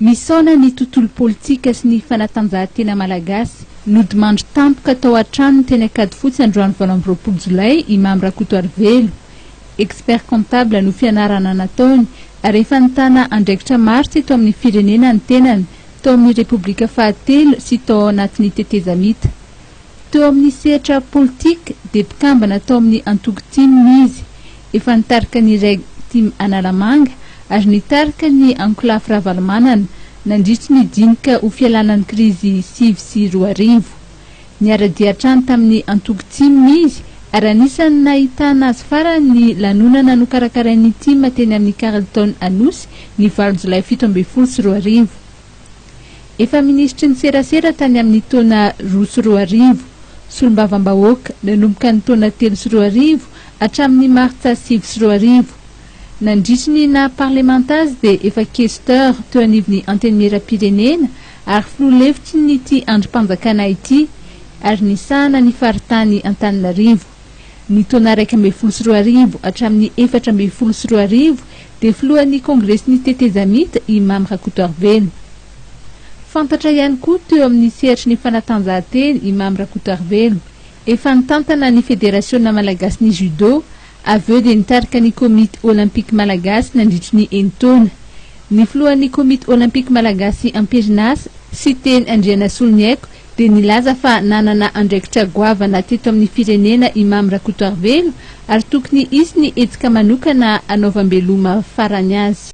Misaona ny tontolo politika sy ny fanatanjahantena malagasy. Nodimandry tampoka tao an-tranony teny Ankadifotsy androany valo amby roapolo jolay i Mamy Rakotoarivelo. Expert comptable no fianarana nataony ary efa nitana andraikitra maro teto amin'ny firenena ny tenany, tao amin'ny Repoblika fahatelo sy tao ao anatin'ny tetezamita. Teo amin'ny sehatra politika dia mpikambana tao amin'ny antoko tim izy. Efa nitarika ny reg tim Analamanga ary nitarika ny ankolafy Ravalomanana nandritry ny dinika ho fialana ny krizy sivy sy roa arivo. Niara-dia hatrany tamin'ny antoko tim izy ary anisan'ny nahitana azy farany ny lanonana nokarakarain'ny tim teny amin'ny Carlton Anosy ny valo jolay fito ambin'ny folo sy roa arivo. Efa minisitry ny serasera tany amin'ny taona roa sy roa arivo, solombavambahoaka nanomboka ny taona telo sy roa arivo hatramin'ny martsa sivy sy roa arivo. Nandritry ny naha parlemanta azy dia efa questeur teo anivon'ny Antenimierampirenena ary filoha lefitry ny ity andrim-panjakana ity ary nisahana ny faritany Antananarivo. Ny taona iraika ambin'ny folo sy roa arivo hatramin'ny efatra ambin'ny folo sy roa arivo dia filohan'ny Kongresin'ny Tetezamita i Mamy Rakotoarivelo. Fantatra ihany koa teo amin'ny sehatry ny fanatanjahantena i Mamy Rakotoarivelo. Efa nitantana ny Federasiona Malagasin'ny Judo, avy eo dia nitarika ny Komity Olympique Malagasy nandritry ny enin-taona. Ny filohan'ny Komity Olympique Malagasy amperinasa, Siteny Andrianasoloniaiko, dia nilaza fa nanana andraikitra goavana teto amin'ny firenena i Mamy Rakotoarivelo ary tokony hisy ny hetsika manokana hanaovam-beloma farany azy.